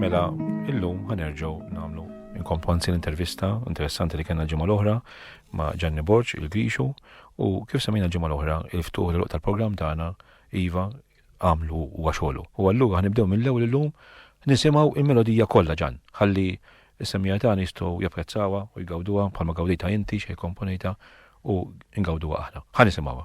Mela, illum ħanerġgħu nagħmlu inkomponzi l-intervista interessanti li kellna ġimgħa l-oħra ma' Ġanni Borġ il-Grixu u kif semina ġimgħa l-oħra il-ftuħ l tal-programm tagħna Iva għamlu u għaxolu. U għallu ħanibdew mill-ewwel illum nisimgħu il-melodija kollha ġan ħalli is-semija tagħna jistgħu japprezzawha u jgawduha bħalma gawdita inti xejn komponita u ngawduha aħna. Ħa nisimgħuha.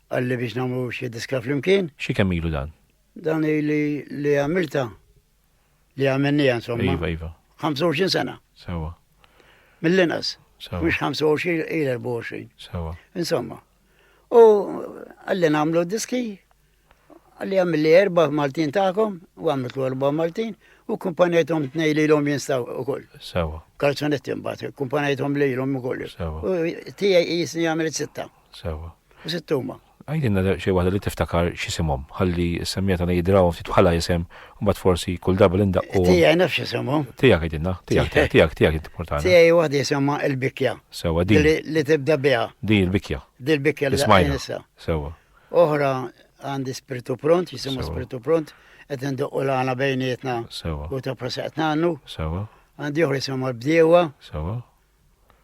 Għalli biex nagħmlu xi diska flimkien. Xi kemm ilu dan? Dan li li għamilta li għamennija insomma. Iva, iva. 25 sena. Sewa. Mill-inqas. Sewa. Mhux 25 il 24. Sewa. Insomma. U għalli nagħmlu diski għalli għamilli erba Maltin tagħkom u għamiltu erba Maltin u kumpanjetom tnej li l-om jinstaw u koll. Sewa. Kalzonetti mbagħad, kumpanjetom li l-om u koll. Sewa. U tijaj jisni għamilt sitta. Sewa. Sitt huma. Għidilna xi waħda li tiftakar x'isimhom, ħalli s-semmija tagħna jidrawhom ftit bħala isem, mbagħad forsi kull darba li ndaqqu. Tiegħi nafx isimhom. Tiegħek għidilna, tiegħek, tiegħek, tiegħek inti portana. Tiegħi waħda jisimha l-bikja. Sewa din. Li tibda biha. Din il-bikja. Din il-bikja li smajna. Sewa. Oħra għandi spiritu pront, jisimu spiritu pront, qed ndoqqu l-għana bejnietna u ta' prosetna għannu. Għandi uħri jisimu l-bdiewa.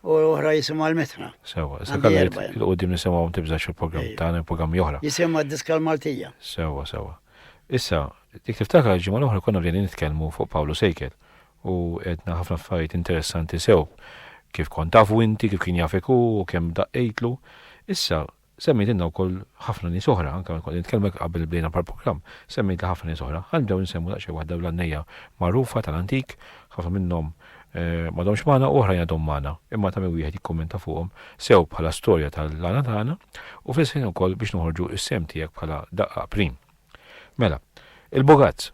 u oħra jisimha l-Mitra. Sewa, issa kalli il-qudiem nisimgħu tibżax il-programm tagħna il-programm joħra. Jisimha d-diska l-Maltija. Sewa, sewa. Issa, dik tiftakar il-ġimgħa l-oħra konna bdejna nitkellmu fuq Pawlu Sejkel u għedna ħafna affarijiet interessanti sew kif kont tafu inti, kif kien jafek u kemm daqqejtlu. Issa, Semmejtilna wkoll ħafna nies oħra, anke meta kont qed nitkellmek qabel bdejna mal-programm, semmejtli ħafna nies oħra. Ħa nibdew insemmu daqsxejn waħda l-għannejja magħrufa tal-antik, ħafna minnhom m'għadhomx magħna u oħrajn għadhom magħna, imma ta' min wieħed jikkummenta fuqhom sew bħala storja tal-għana tagħna u fl-istess ħin ukoll biex noħorġu s-sehem tiegħek bħala daqqa prim. Mela, il-Bogazz.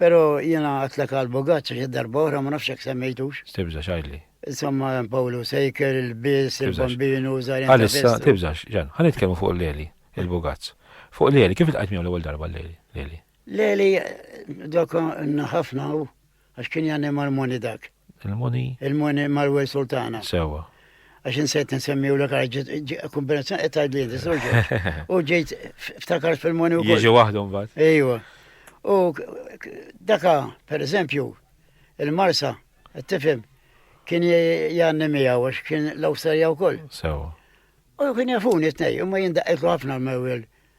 Pero jiena għatlek għal Bogazza xi darba oħra ma nafx jekk semmejtux. Tibżax għidli. Insomma Pawlu Sejker, il-Bis, il-Bambinu, Żarjan. Għalissa tibżax, Ġan, ħa nitkellmu fuq l-Leli, il-Bogazz. Fuq l-Leli, kif il-qajt miegħu l-ewwel darba l-Leli? Leli, dok ħafna għax kien jgħanni marmoni dak. Il-Muni. Il-Muni Marwel Sultana. Sewa. Għax insejt nsemmi u l kombinazzjoni qed tgħidli inti soġġet. U ġejt ftakar fil-Muni u. Jiġi waħdhom bad. Ejwa. U daka, per eżempju, il-Marsa, qed tifhem, kien janni miegħu għax kien l-Awstralja wkoll. Sewa. U kien jafuni t-nej, imma jindaqqilu ħafna l-mewel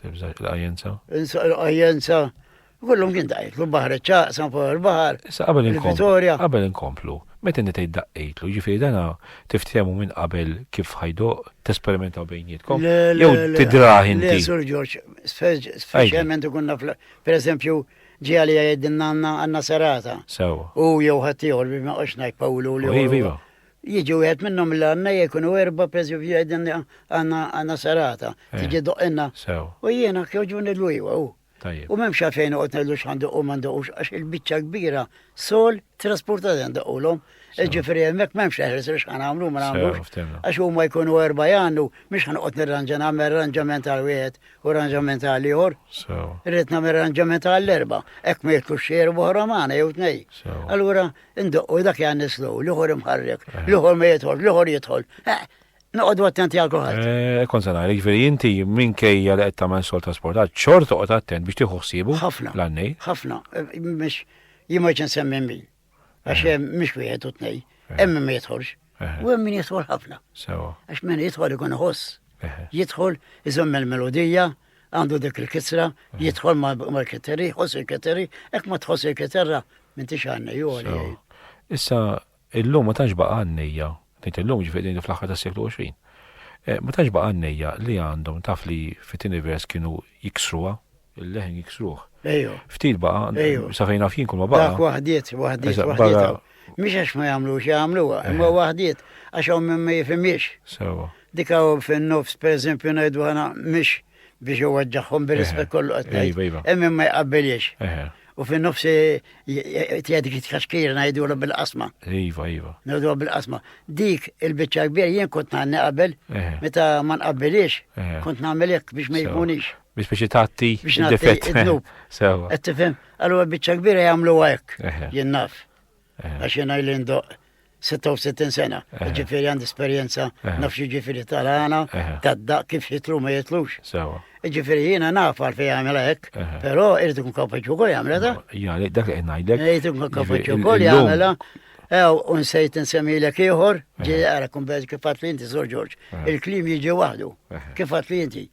Tibżax il-qajjenza? Insa il-qajjenza. Kullum kien daqitlu l-baħar ċaq, san fuq il-baħar. Issa qabel inkomplu. Qabel inkomplu. Meta inti tgħid daqqitlu, ġifieri dana tiftehmu minn qabel kif ħajdu tesperimentaw bejnietkom. Jew tidraħ inti. Le, Sur Ġorġ, speċjalment ikun naf, pereżempju, ġi għalija jgħidilna għandna serata. Sewa. U jew ħaddieħor biex ma qosx ngħid Pawlu li. Iva, iva. Jiġi wieħed minnhom li għandna jkunu erba' pereżempju jgħidilni għandna għandna serata, eh, tiġi doqqinna. Sew. U jiena kjoġbuni l-ujwa u. Tajjeb. U m'hemmx għalfejn noqgħod ngħidlu x'għandu u m'għandux għax il-biċċa kbira sol trasportat għandaqulhom. Ġifieri hemmhekk m'hemmx eħres li x'ħan għamlu ma nagħmlux. Għax huma jkunu erba' jgħandu mhux ħanqod nirranġa nagħmel arranġament għal wieħed u arranġament għal ieħor. Rrid nagħmel arranġament għall erba' hekk ma jitlux xejn oħra magħna jew tnej. Allura Indoqqu dak jan nislu, l-ieħor imħarrek, l-ieħor ma jidħol, l-ieħor jidħol. Eh, noqogħdu attenti għal kulħadd. Eh, kont se ngħid, jiġifieri inti minkejja li qed tagħmel sol trasportat, xort toqgħod attent biex tieħu ħsiebu. Ħafna. L-għannej. Ħafna. Eh, mhux jien ma ġen semmi min. Għax mhux wieħed u tnej. Hemm ma jidħolx. U hemm min jidħol ħafna. Sewa. Għax min jidħol ikun iħoss. Jidħol iżomm il-melodija, għandu dik il-kisra, jidħol mal-kiteri, jħoss il-kiteri, hekk ma tħoss il-kiterra minn tix għanni joli. Issa, illum ma tantx baqa' għannejja, tgħid illum ġifieri fl-aħħar tas-seklu 20. Eh, ma tantx baqa' għannejja li għandhom taf li fit-tieni vers kienu jiksruha Il-leħen jiksruh. Ejju. Ftit baqa, sa fejn naf jien kull ma baqa. Dak waħdiet, waħdiet, waħdiet. Mhix għax ma jagħmlux jagħmluha, imma waħdiet għax hawn minn ma jifhimiex. Sewa. Dik hawn fin-nofs pereżempju ngħidu ħana mhix biex iwaġġaħħom bir-rispett kollu qed ngħid. Iva, iva. Hemm ma jqabbeliex. U fin nofsi tjadik it-kaxkir najdu l bil-qasma. Iva, iva. Najdu bil-qasma. Dik il-bicċa kbir jien kont nanni qabel, meta man qabbilix, kont namilek biex ma jkunix. Biex biex jitatti id-difett. Sewa. Qed tifhem, allura biċċa kbira jagħmlu hekk. Jien naf. Għax jien għajli ndoq 66 sena, ġifieri għandi esperjenza naf xi ġifieri tal-għana, tad-daq kif jitlu ma jitlux. Sewa. Ġifiri jina naf għal fej għamela hekk, pero irrid kun kapaċi wkoll jagħmilha da. Ja, dak li ngħidlek. Irrid kun kapaċi wkoll jagħmilha. Ew, unsejt nsemmilek ieħor, ġi għara kun beż kif għat li inti, Sor Ġorġ, il-klim jiġi waħdu, kif għat li inti.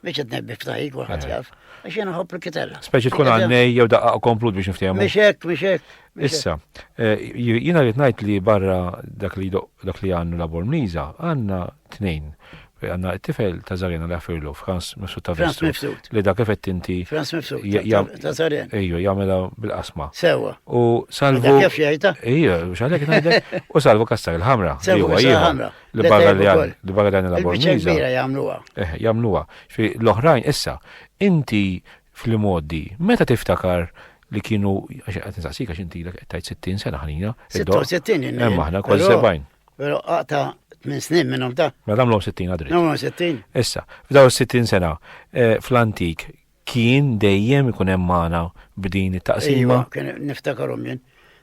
Biex qed nebbi f'taħi kulħadd eh. jaf. Għax jien nħobb il-kitarra. Speċi tkun għannej jew daqqa komplut biex niftehmu. Mhix hekk, mhix hekk. Issa, eh, jiena rrid ngħid li barra dak li dak li għandu la Bormniża għandna tnejn għanna t-tifel ta' Zarena li għafirlu, Franz Mifsud ta' Franz Mifsud. Li dak effett inti. Franz Mifsud ta' Zarena. Ejju, jgħamela bil-qasma. Sewa. U salvu. Kif jgħajta? Ejju, xalek najdek. U salvu kastar il-ħamra. Sewa, il-ħamra. L-Bagaljan, l-Bagaljan il-Laborniza. Il-Biċċa jagħmluha. Eh, jagħmluha. L-oħrajn issa, inti fl-modi, meta tiftakar li kienu, għet nsaqsik għax inti l tajt 60 sena ħanina. 66 inna. Emma ħna kol 70. Pero għata 8 snin minnom ta' Mela għamlu 60 għadri. Għamlu 60. Issa, f'daw 60 sena, eh, fl-antik, Kien dejjem ikun hemm magħna b'din it-taqsima. Ejwa, kien niftakarhom jien.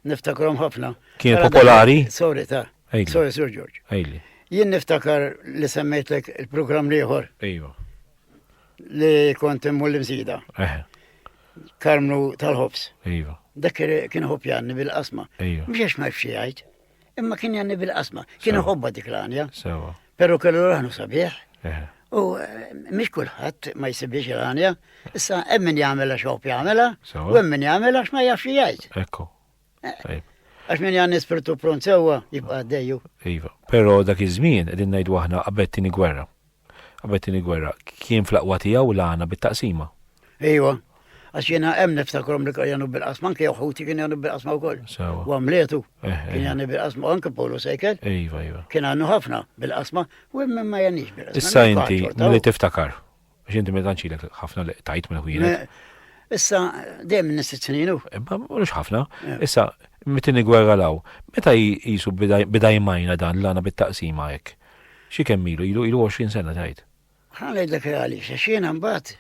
Niftakarhom ħafna. Kien popolari? Sorry ta. Sorry Sir George. Ejli. Jien niftakar li semmejtlek il-programm l-ieħor. Ejwa. Li kont immur l-imsida. Eh. Karmnu tal-ħobs. Ejwa. Dak kien ħobjanni bil-qasma. Ejwa. Mhux għax ma jfxi jgħid. Imma kien janni bil-qasma, kien iħobba dik l-għanja. Sewa. Pero kellu raħnu sabiħ. Eh. U eh, mhix kulħadd ma jsibiex il-għanja, issa hemm min jagħmilha xop jagħmilha, u hemm min jagħmilha x'ma jafx jgħid. Ekku. Eh, għax min jgħanni spirtu pront sewwa jibqa' għaddejju. Iva, però dak iż-żmien qegħdin ngħidu aħna qabel tieni gwerra. Qabel it-Tieni Gwerra, kien fl-aqwa tiegħu l-għana bit-taqsima. Ejwa, għax jiena hemm niftakrom li kien jagħmlu bil-qasma, anke ħuti kien jagħmlu bil-qasma wkoll. U għamletu, eh, eh. kien jagħmlu bil-qasma, u anke Polo Sejker. Ejwa, ejwa. Kien għandu ħafna bil-qasma, u hemm ma jagħnix bil-qasma. Issa inti, li tiftakar, għax inti meta nċilek ħafna li tajt minn ħwienet. Issa, dejjem nistit snin. Imma mhux ħafna. Eh. Issa, mitini gwerra law, meta jisu bidaj majna dan l-għana bit-taqsima hekk? Xi kemm ilu? Ilu ilu 20 sena tgħid. Ħa ngħidlek għaliex, għax jiena mbagħad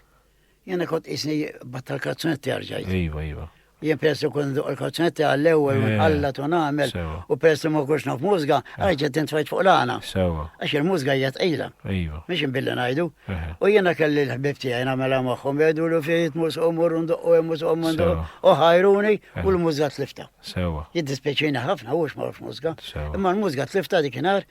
jiena kont qisni battal kazzonetti għarġajt. Iva, iva. Jien peress li kun duq il-kazzonetti għall-ewwel eh, għalla tu nagħmel u peress li ma kunx naf mużga, eh. għajġa din tfajt fuq l-għana. Sewa. Għax il-mużga hija tqila. Iva. Mhix inbilli ngħidu. Eh. U jiena kelli l-ħbib tiegħi nagħmelha magħhom jgħidu lu fejt mus u mur ndoqqu hemm mus u mundu u ħajruni u l-mużga tlifta. Sewa. Jiddispeċina ħafna u ma mużga. Imma l-mużga tlifta dik inhar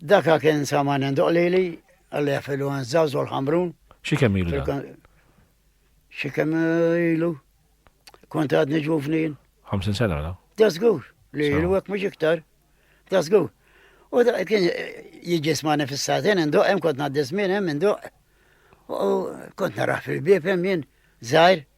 Daka kien saman għandu qlili, għalli għafilu għan zawzu l-ħamrun. Xi kemm ilu da? Xi kemm ilu? Kont għadni ġuvnin. 50 sena da? Da żgur li ilu hekk mhux iktar. Da żgur. U da kien jiġi smani fis-satin indoq hemm kont ngħaddi żmien hemm indoq. U kont naraħ fil-bieb hemm jien żgħir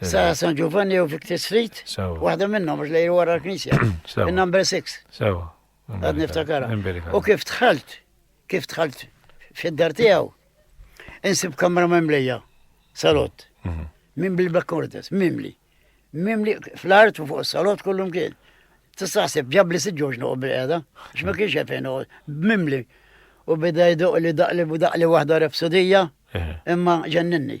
Sa San Giovanni u Victor Street, waħda minnhom għax lejl wara l-Knisja. Il-number 6. Sewa. Għad niftakara. U kif tħalt, kif tħalt fid-dar tiegħu, insib kamra memlija, salott. Mhm. Mim bil bakkordes mimli. Mimli fl-art u fuq salott kullum kien. Tistaħseb ġabli siġġoġ noqgħod bil-qiegħda, x'ma kienx hemm fejn mimli. U beda jdoq li daqli u daqli waħda repsodija, eh. imma ġenninni.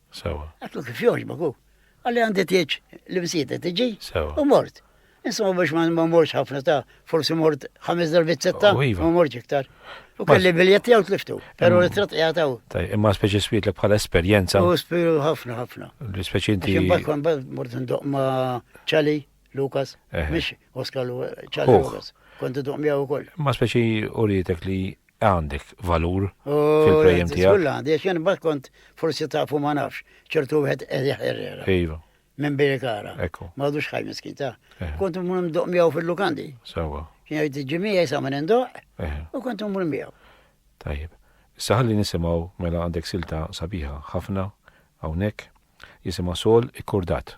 Sewa. Għatlu kif joġbok hu. Għalli għandi tieġ li msieta tiġi. Sewa. U mort. Insomma biex ma morx ħafna ta' forsi mort ħames darbit setta, oh, iva. ma morx iktar. U kelli biljet jew tliftu, pero mm. li trat jgħataw. Taj, imma speċi swiet li bħala esperienza. U spiru ħafna ħafna. Speċi inti. Imbagħad kwan bad mort ndoq ma ċali. Lukas, mhix Oscar Charlie Lukas. Kont iduq miegħu wkoll. Ma speċi urietek li għandek valur oh, fil-prejem tiegħek. Kulla għandi, għax jien kont forsi tafu ma nafx, ċertu wieħed qed jaħerrera. Iva. Minn Birikara. Ekku. Ma għadux ħaj miskin ta'. Eh. Kont mmur mdoq miegħu fil-lukandi. Sewa. Kien jgħid ġimija jisa minn indoq eh. u kont mmur miegħu. Tajjeb. Issa ħalli nisimgħu mela għandek silta sabiħa ħafna hawnhekk jisimha sol ikkordat.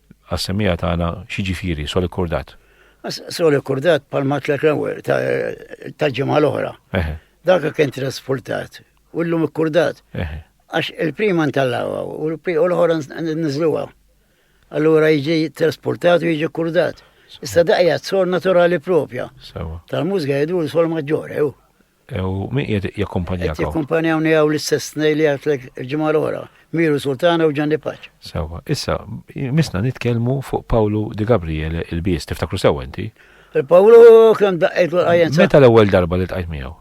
Għas-semmiegħa tagħna x'jiġifieri sol ikkurdat? Sol ikkurdat bħalma tlek l-ewwel tal-ġimgħa l-oħra. Dak kien trasportat u llum ikkurdat. Għax il-prima ntallawha u l-ħora niżluha. Allura jiġi trasportat u jiġi kurdat. Issa daqja t-sol naturali propja. Tal-mużga jgħidu l-sol maġġore. U min qiegħed jakkumpanjakom? Qed jakkumpanjawni hawn l-istess tnej li għatlek il-ġimgħa l-oħra, Miru Sultana u Ġanni Paċ. Sewwa, issa misna nitkellmu fuq Pawlu Di Gabriele il-bies, tiftakru sewwa inti? Il-Pawlu kemm daqqejt l qajjen Meta l-ewwel darba li tqajt miegħu?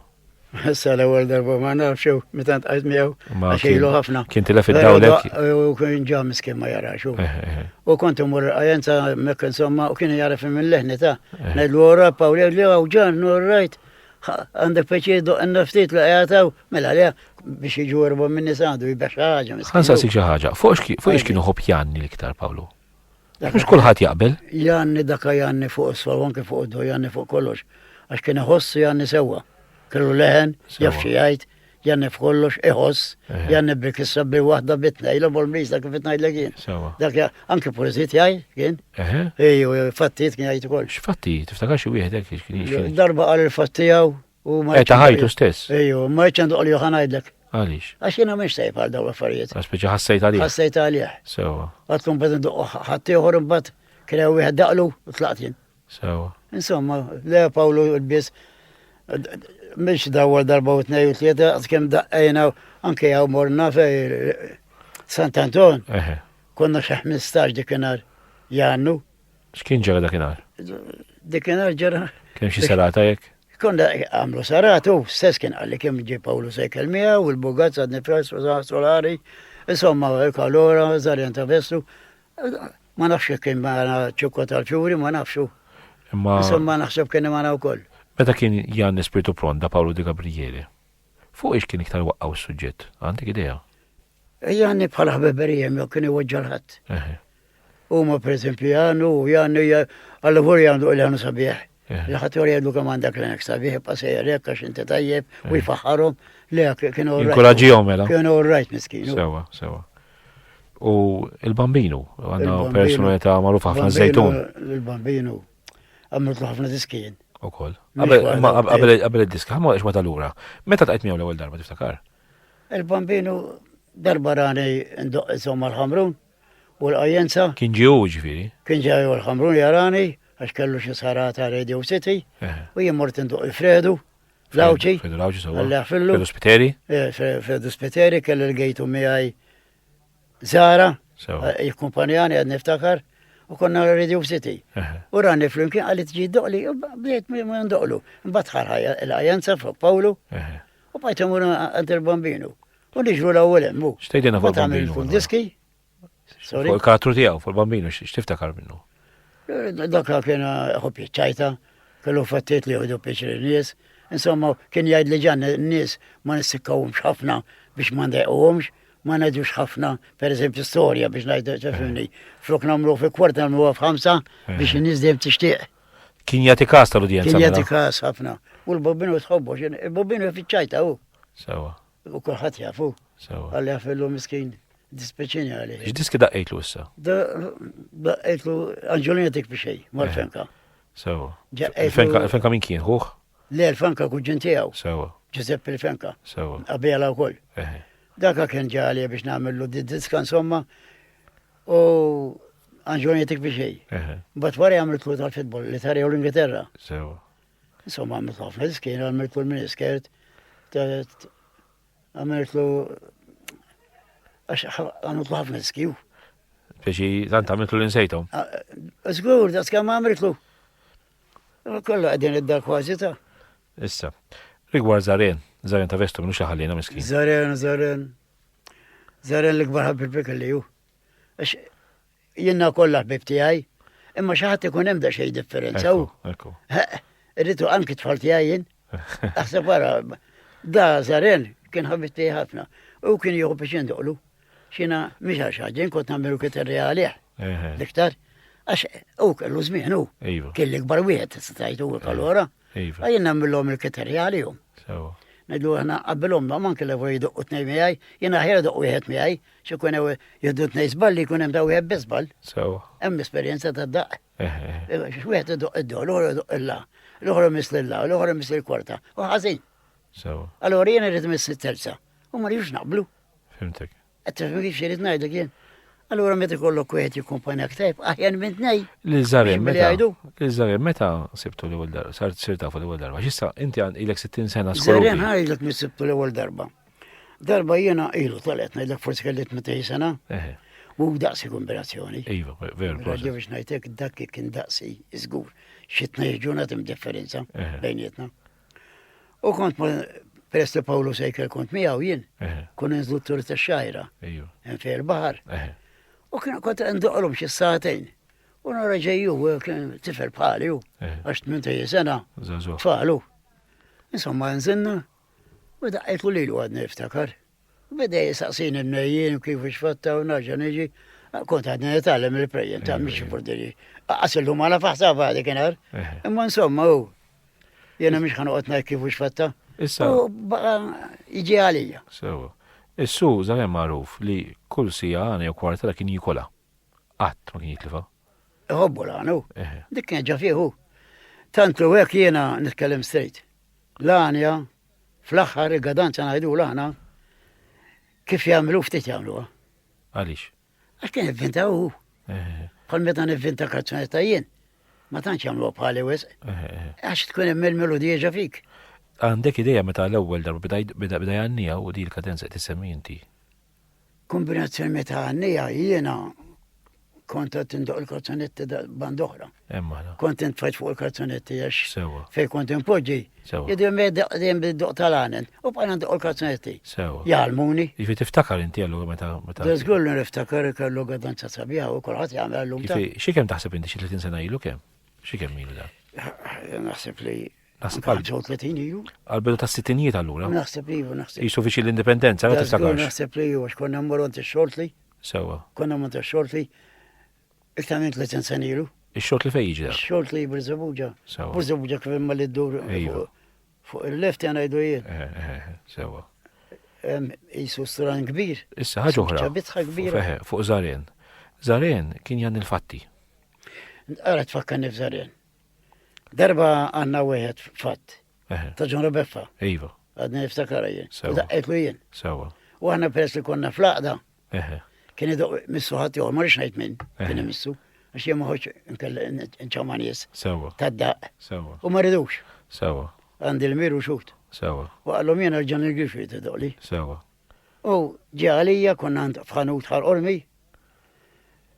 Issa l-ewwel darba ma nafx jew meta tqajt miegħu għax ilu ħafna. Kien tilef id-dawlek. U kien ġa miskin ma jarax. Eh, eh, eh. U kont imur qajjen ta' mekk insomma u kien jaraf minn leħni ta' ngħidlu ora Pawlu li hawn ġan, rajt. Għandek pjaċir doqna ftit li qiegħed hawn, mela le biex jiġu erba' minn nies għandu jibgħat xi ħaġa. Ħansaqsik xi ħaġa, fuq ix kienu ħobb Janni l-iktar Pawlu? Mhux kulħadd jaqbel. Janni daka Janni fuq is-sol, anke fuq id-do Janni fuq kollox. Għax kien iħossu Janni sewwa. Kellu leħen, jaf xi jgħid, Janne f'kollox iħoss, eh. janne bik is-sabbi waħda bitna, ila bol-mis dak kif ngħidlek jien. Dak anke poeżiet jgħid kien. Eh. Ejju, fattijiet kien jgħid ukoll. X'fattijiet, tiftakar xi wieħed hekk Darba qal il-fattijaw u ma. Eta ħajtu stess. Ejju, ma jċandu qal joħan ngħidlek. Għalix. Għax jena miex sejf għal daw affarijiet. Għax biex ħassajt għalih. Ħassajt għalih. Sewa. Għatkum bad nduq ħattijħor mbagħad kien hemm wieħed daqlu u tlaqt jien. Sewa. Insomma, le Pawlu biss mhix dawwal darba u tnej u tlieta għad kemm daqqajna anke hawn morna fej Sant Anton. Konna xi 15 dikinhar jannu. X'kien ġara dakinhar? Dikinhar ġara. Kemm xi serata jekk? Konna għamlu saratu, stess kien għalli kemm ġi Pawlu sejkel mija u l-bugat sad nifres u solari, insomma, kalora, zarjan ta' vestu, Ma nafx jekk kien magħna ċukka tal-fjuri, ma nafx hu. Imma. Insomma naħseb kien magħna wkoll. Meta kien Jan Spiritu Pront da Pawlu di Gabrijeli, fuq ix kien iktar waqqaw is-suġġett? Għandek idea? Jan bħala ħbeberijem jew kien iweġġa l-ħadd. Huma pereżempju Jan u Jan hija għall-ħur Jan duq li Jan sabiħ. L-ħadd jor jgħidu kemm għandek l-għenek sabiħ, ibqa' sejjer hekk għax inti tajjeb u eh. jfaħħarhom li kienu rajt. Inkuraġġihom mela. Kienu rajt miskin. Sewa, sewa. U il-bambinu, għandna personalità magħruf ħafna żejtun. Il-bambinu, għamiltu ħafna diskien. U koll. Qabel id-disk, ħamma eċma tal-ura. Meta taqajt miegħu l-ewwel darba tiftakar? Il-bambinu darba rani ndoq insomma l-ħamrun. u l-qajjenza. Kien ġie hu, ġifieri? Kien ġie hu l-Ħamrun jarani għax kellu xi sħara ta' Radio City u jien mort indoqq il-Fredu l-Għawdxi. Fredu l-Għawdxi sewwa. Għalleħ fillu. Fredu Spiteri? Fredu Spiteri kelli l-gejtu miegħi Zara. Sewwa. Jikkumpanjani għad niftakar u konna Radio City. U rani flimkien għalli tġi doqli, bdejt minn doqlu. Mbatt ħarħajja l-ajanza fuq Pawlu. U bajt imur għand il-bambinu. U niġru l-ewwel hemm. Xtejdina fuq il-bambinu. Fuq diski. Fuq il-karattru tiegħu, fuq il-bambinu, x'tiftakar minnu? Dakka kien ħobbi ċajta, kellu fattiet li jħodu piċri nies. Insomma, kien jgħid li ġan nies ma nissikkawhomx ħafna biex ma ndejquhomx, ma ngħidux ħafna, per eżempju, storja biex ngħidu ċefni. Flok nagħmlu fi kwarta nagħmlu f'ħamsa biex in-nies dejjem tixtieq. Kien jagħti kas tal-udjenza. Kien jagħti mela. kas ħafna. U l-bobbinu tħobbu, il-bobbinu fiċċajta hu. Sewa. U kulħadd jafu. Sewa. Għalli għafillu miskin dispeċini għalli. X'diski daqqejtlu issa? Daqqejtlu Anġolina dik bixej, eh. mal-fenka. Sewa. Il-fenka minn kien, ħuħ? Le, l-fenka kuġġin tiegħu. Sewa. Giuseppe l-fenka. Sewa. Qabela wkoll. Eh. Daka kien ġali biex nagħmlu diska insomma. U Anġolina dik bixej. Eh. Bat wara għamlu tlu tal-fitbol li tarjew l-Ingilterra. Sewa. Insomma, għamilt ħafna diskin, għamiltu l-miniskert, għamiltu għax għamiltu ħafna diski. Biex tant għamiltu l-insejtom? Zgur, da skam għamiltu. Kollu għadin id-dar kważi ta' Issa, rigward Zaren, Zaren ta' vestu minnu xaħalina miskin. Zaren, Zaren. Zaren l-ikbar ħabbi pek li ju. Għax Jiena kollha ħbib tiegħi, imma xi ħadd ikun hemm da xejn differenza. Ekku. Irritu anki tfal tiegħi jien. Aħseb wara, da żaren kien ħabib tiegħi ħafna. U kien jieħu biex jindoqlu. Xina mhix għax ħaġin kont nagħmlu kif irreali. L-iktar għax u kellu żmien u. Iva. Kien l-ikbar wieħed tista' tgħid u allura. Iva. Iva. Jien nagħmilhom il-kriterji għalihom. Sewa. Ngħidu aħna qabbilhom ma manki li fuq jduqqu tnej miegħi, jien aħjar doq wieħed miegħi, xi jkun hemm jiddu tnej żball li jkun hemm ta' wieħed biżball. Sewa. Hemm esperjenza ta' daqq. Eh, eh, eh. Wieħed idoq id-dol, l-oħra idoq illa, l-oħra miss lilla, l-oħra miss il-kwarta, u ħażin. Sewa. Allora jien irid miss it-terza. U ma rridux naqblu. Fimtek. Qed tifhimni x'irid ngħidlek jien? Allura meta jkollok wieħed jikkumpanjak tajb, aħjar minn tnej. Li żarim meta. Li żarim meta sibtu l-ewwel darba, sar tsir tafu l-ewwel darba. X'issa inti għan ilek 60 sena skola. Żarim ħajlek mi sibtu l-ewwel darba. Darba jiena ilu tolet ngħidlek forsi kelli 18 sena. U daqsi kombinazzjoni. Iva, veru. Għaddi biex ngħidlek dak kien daqsi, żgur. Xi tnej ġurnat hemm differenza bejnietna. U kont peress li Pawlu Sejker kont miegħu jien, kun inżlu t-tur ta' xajra. Hemm fejn il-baħar. U kien kont ndoqlhom xi satejn. U nara ġejju kien tifel bħali u għax tmien ta' sena. Tfalu. Insomma nżinna u daqqajtu lilu għadni niftakar. Beda jisaqsini mnejjien kif xfatta u naġa niġi. Kont għadni nitgħallem il-prejjen ta' mhix burdiri. Qas illum għala faħsaba dik inhar. Imma insomma hu. Jena mhix ħanoqgħod ngħid kif xfatta. Issa. U baqa' jiġi għalija. Sewa. Is-su żagħem magħruf li kull sija għana jew kwartela kien jikolha. Qatt ma kien jitlifha. Iħobbu l-għanu. Dik kien ġa fieħu. Tant li hekk jiena nitkellem strejt. L-għanja Fl-aħħar il-gadanza ngħidula aħna kif jagħmlu ftit jagħmluha. Għaliex? Għax kien ivvinta hu. Bħal meta nivvinta kazzunetta jien. Ma tantx jagħmluha bħali wisq. Għax tkun hemm il-melodija fik. Għandek ideja meta l-ewwel darba bida jgħanniha u di l-kadenza qed issemmi inti. Kombinazzjoni meta għannija jiena kont qed indoq il-kazzonetti band oħra. Hemm aħna. Kont intfaċ fuq il-kazzonetti għax. Sewa. Fej kont inpoġġi. Sewa. Jidhom dejjem bid-doq tal-għanen u bħala ndoq il-kazzonetti. Sewa. Jgħalmuni. Jiġifieri tiftakar inti allura meta meta. Żgur li niftakar ikellu gadanza sabiħa u kulħadd jagħmel llum. Xi kemm taħseb inti xi 30 sena ilu kemm? Xi kemm ilu dan? Naħseb li Naħseb għal ġew 30 ilu. Għal bidu ta' sittinijiet allura. Naħseb li ju naħseb. Jisu viċi l-indipendenza, għal tiftakarx. Naħseb li ju għax konna mmorru għand xortli. Sewa. Konna mmorru xortli. Iktar minn 30 sena ilu. Ix-xort li fejn jiġi? Ix-xort li Birzabuġa. Sewa. Birzabuġa kif imma li ddur. Iva. Fuq il-left jana jdu jien. Eh, eh, eh, sewa. Jisu stran kbir. Issa ħaġa oħra. Ċabitħa kbir. Fuq Zaren. Zaren kien jan il-fatti. Għara tfakkan nif Zaren. Darba għanna wieħed fatt. Ta' John Rebeffa. Iva. Għadni niftakara jien. Sewa. Daqqetlu jien. Sewa. U għanna peress li konna flaqda. Kien idu missu ħadd joħor, ma rix ngħid minn. Kien missu. Għax jien ma ħoġġ nċama nies. Sewa. Tad-daqq. Sewa. U ma ridux. Sewa. Għandi l-miru xut. Sewa. U għallhom jien ġan il-grifi tidoqli. Sewa. U ġi għalija konna f'ħanut ħal ormi.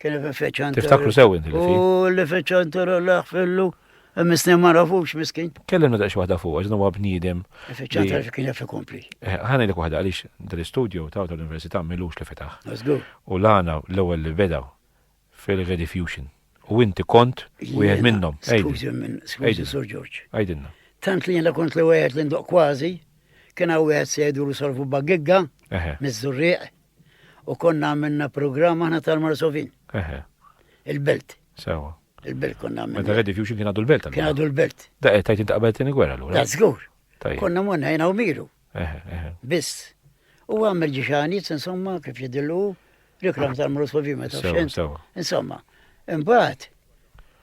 Kien ifeċan. Tiftakru sew inti li U li feċan tara laħ fillu. Misni ma rafux miskin. Kellimna daqx waħda fuq, għax huwa bniedem. Feċan tara kien jaf ikompli. Eh, ħani li waħda għaliex dal-istudju ta' tal-Università milux li fetaħ. U lana l-ewwel li beda fil-Rediffusion. U inti kont u jgħed minnom. Skużi minn, skużi Sur Ġorġ. Għajdinna. Tant li jena kont li wieħed li ndoq kważi, kien hawn wieħed sejdu li solfu bagigga, miż-żurrieq. U konna għamilna programm aħna tal-Marsovin. Eħe. Il-belt. Sewa. Il-belt konna għamilna. Meta Red Fusion kien għadu l-belt. Kien għadu l-belt. Da qed tajt inti qabel tieni gwerra l Da żgur. Konna monna jena u miru. Eħe, eħe. Biss. U għamil ġiġani, insomma, kif jidillu, reklam tal-Marsovin meta xent. Insomma, imbagħad.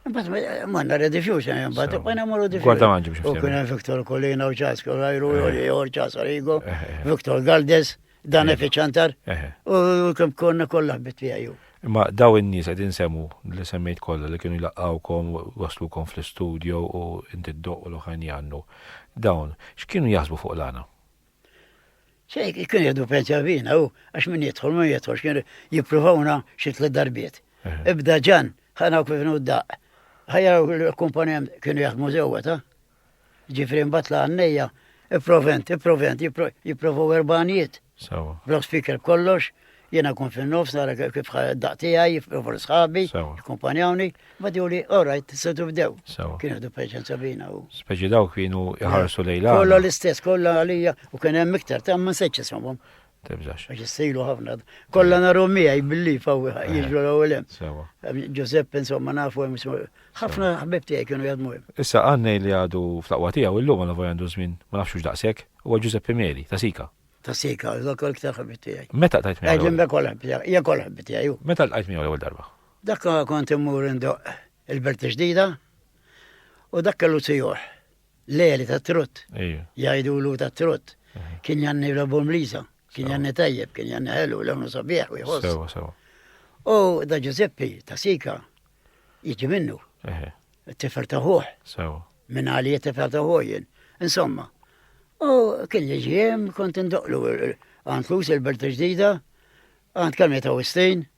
Imbagħad manna Red Fusion imbagħad bqajna morru differenti. Guarda manġi biex. U kien Viktor Kolina u Ċasko, Rajru, Jor Ċasarigo, Viktor Galdes. Dan Ejja. ifiċantar Eħe. u kemm konna kollha ħbit tiegħi. hu. Imma daw in-nies qed insemmu li semmejt kollha li kienu jlaqqawkom, waslukom fl-istudio u inti ddoq u l-oħrajn jgħannu. Dawn, x'kienu jaħsbu fuq l-għana? Se kien jgħidu pensja fina u għax min jidħol ma jidħolx kien jippruvawna xi tliet darbiet. Eħe. Ibda ġan, ħana u kif nudaq. Ħajja l-kumpanija kienu jaħdmu żewwa ta' Ġifri mbagħad la għannejja, ipprovent, ipprovent, jipprovaw erbanijiet. Sawa. Bla speaker kollox, jiena kun fin-nofs nara kif daqtija jipprovaw l-sħabi, jkumpanjawni, ma diwli, orajt, setu bdew. Sawa. Kien għadu preċenza bina u. Speċi daw kienu jħarsu lejla. Kolla l-istess, kolla għalija, u kien hemm iktar, ta' ma nsejċ isomhom. Tibżax. Għax jissilu ħafna. Kolla naru miegħi billi fawi eh, jiġu l-ewwel hemm. Ġużepp insomma nafu hemm ħafna ħbib tiegħi kienu jadmu hemm. Issa għannej li għadu fl-aqwa tiegħu illum għal vojja għandu żmien ma nafx hux daqshekk, huwa Ġużeppi Meli ta' Sika. Ta' Sika, dak l-iktar ħbib tiegħi. Meta tajt miegħu? Għedin bekol ħbib tiegħi, hija kol ħbib tiegħi. Meta l-qajt miegħu l-ewwel darba? Dak kont immur indoq il-Berti ġdida u dak kellu sijuħ. L-għeli ta' trott. Jgħidu l ta' trott. Kien janni l-obu mlisa. Kien janni tajjeb, kien janni ħelu, l-għonu sabieħ u jħoss. Sewa, sewa. U da Giuseppi ta' Sika jiġi minnu. Tifer ta' ħuħ. Sewa. Minn għali tifer ta' ħuħin. Insomma. U kien jiġi jem kont indoqlu għantlus il-berta ġdida, għand kamja ta' Wistin.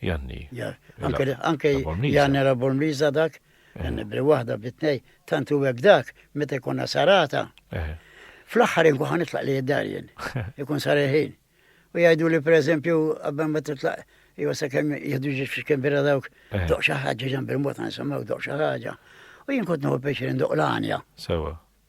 Janni. Anke anke Janni la Bormliża dak, Janni bri waħda bri tnej, tant u hekk dak, meta jkollna sarata. Fl-aħħar inkun ħa nitlaq li id-dar jien. Ikun sar il-ħin. U jgħidu li pereżempju qabel ma titlaq jew sakemm jieħdu ġiex fix kembira dawk doq xi ħaġa ġamb il-mod nisimgħu doq xi ħaġa. U jien kont nieħu pjaċir ndoq l-għanja. Sewa.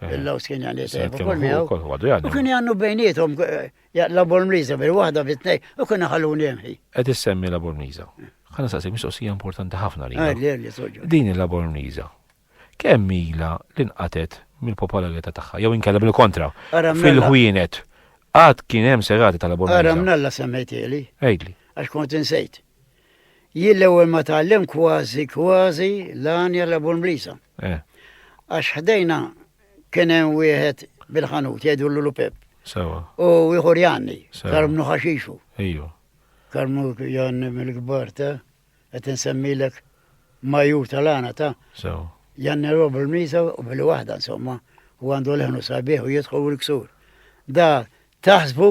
Eh. Il-laws kien għandu jtejjeb ukoll miegħu. U kien għandu bejnietom eh, labor mliża bil-waħda bit-tnej u kien ħalluni jemħi. Qed issemmi labor mliża. Ħana saqsi mistoqsija importanti ħafna li. Ah, Din il-labor mliża. Kemm ila li nqatet mill-popolarità tagħha jew inkella bil-kontra fil-ħwienet. Għad kien hemm serati tal-labor mliża. Ara mnalla semmejtieli. Għidli. Għax kont insejt. Jien l-ewwel ma tgħallem kważi kważi l-għanja l-abu l-mlisa. Eh. Għax ħdejna kien hemm wieħed bil-ħanut jgħidu l Pep. Sewa. U ieħor Janni, karmnu ħaxixu. Ejju. Karmnu Janni mill-kbar ta' qed insemmilek majur tal-għana ta' Janni Rob il-Misa u billi waħda insomma u għandu leħnu sabiħ u jidħol l-ksur. Da taħsbu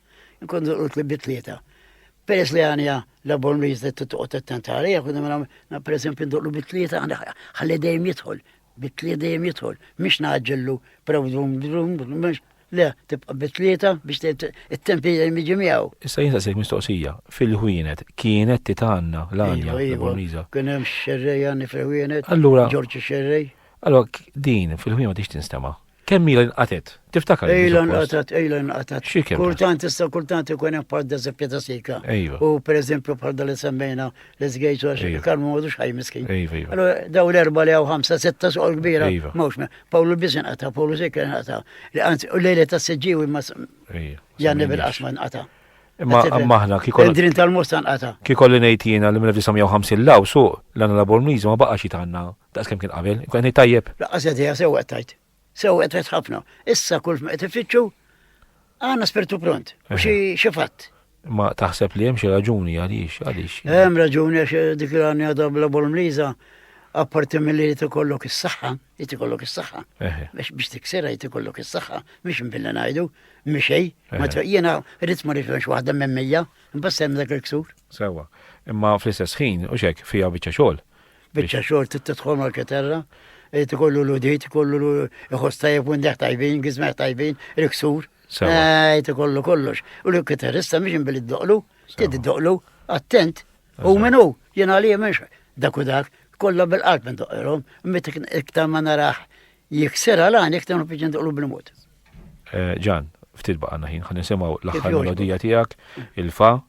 Nkun durqut li bitlieta. Peress li għanja la bon riz li t-tuqot t-tenta għalija, kun għamil għamil, per esempio, ndurlu bitlieta, għalli dejjem jitħol, bitlieta dejjem jitħol, mux naġġillu, praw drum, drum, drum, le, tibqa bitlieta biex t-tempi dejjem iġi miegħu. Issa jinsa sejk mistoqsija, fil-ħwienet, kienet titanna l-għanja, la bon riza. Kienem xerrej għanni fil-ħwienet, Allura, Ġorġi xerrej. Allora, din fil-ħwienet ix tinstema? Kemm ilha nqatet? Tiftakar? Ilha nqatet, ilha nqatet. Xi kemm? Kultant issa kultant ikun hemm bħal deżempju ta' sika. Ejwa. U pereżempju bħal dal semmejna li żgejt għax kan ma għadux ħaj miskin. Ejwa, ejwa. Allora daw l-erba' li hawn ħamsa sitta soqol kbira. Ejwa. Mawx me. Pawlu biss inqata', Pawlu sik inqata'. Li anzi u lejla ta' siġġiw imma. Ejwa. Janni bil-qasma nqata'. Imma maħna kikol. Drin tal-musta nqata'. Kikol li ngħid jiena li mill-1950 law suq l-għana laborniżu ma baqax jitanna. Daqs kemm kien qabel, inkun qed ngħid tajjeb? Laqqas idea sewwa qed tgħid. Sewwa qed tgħid ħafna. Issa kull ma qed ifittxu għandna spirtu pront u xi xi fatt. Ma taħseb li hemm xi raġuni għaliex għaliex. Hemm raġuni għax eh, dik l-għani għadha bla bolmliża apparti mill-li jt ikollok is-saħħa, jt ikollok is-saħħa. Biex biex tiksera jt ikollok is-saħħa, biex mbilla ngħidu, miexej, ma jiena rrid ma rridx waħda minn mija, imbagħad dak il-ksur. Sewa, imma fl-istess ħin u xek fija biċċa xogħol. Biċċa xogħol trid tidħol mal-keterra, irid ikollu l-udit, ikollu iħoss tajjeb u ndeħ tajbin, gizmeħ tajbin, riksur. Irid ikollu kollox. U l-keterrista mhix billi doqlu, trid doqlu, attent, u minnu, jien għalija mhux dak u dak, kollha bil-qalb ndoqilhom, meta iktar ma narax jiksir għalani iktar nfiġġi ndoqlu bil-mod. Eh, Ġan, ftit baqgħna ħin, ħan nisimgħu l-aħħar melodija tiegħek, il-fa,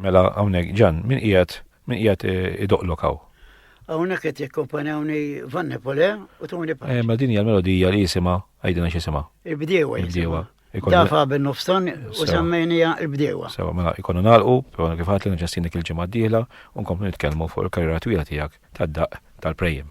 Mela hawnhekk ġan, min qiegħed min qiegħed eh, idoqlok hawn? Hawnhekk qed jikkompanjawni Van Nepole u Tony Pax. Eh, ma din hija l-melodija li jisimha għajdina x'isimha. Il-bdiewa. Il-bdiewa. Dafa bin nofstan u semmejnija il-bdewa. Sewa, mela ikonu nalqu, pero kif għatli nġastinik il-ġimgħa d-dieħla u nkomplu nitkellmu fuq il-karriera twila tiegħek tad-daq tal-prejjem.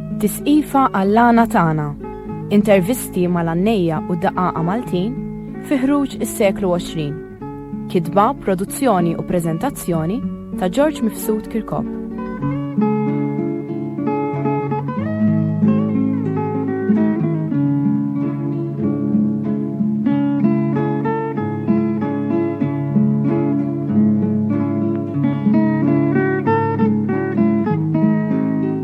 Tisqifa Allana Tagħna, Intervisti mal-għannejja u daqaqa Maltin fi ħruġ is-seklu 20. Kitba, produzzjoni u preżentazzjoni ta' George Mifsud Kirkop.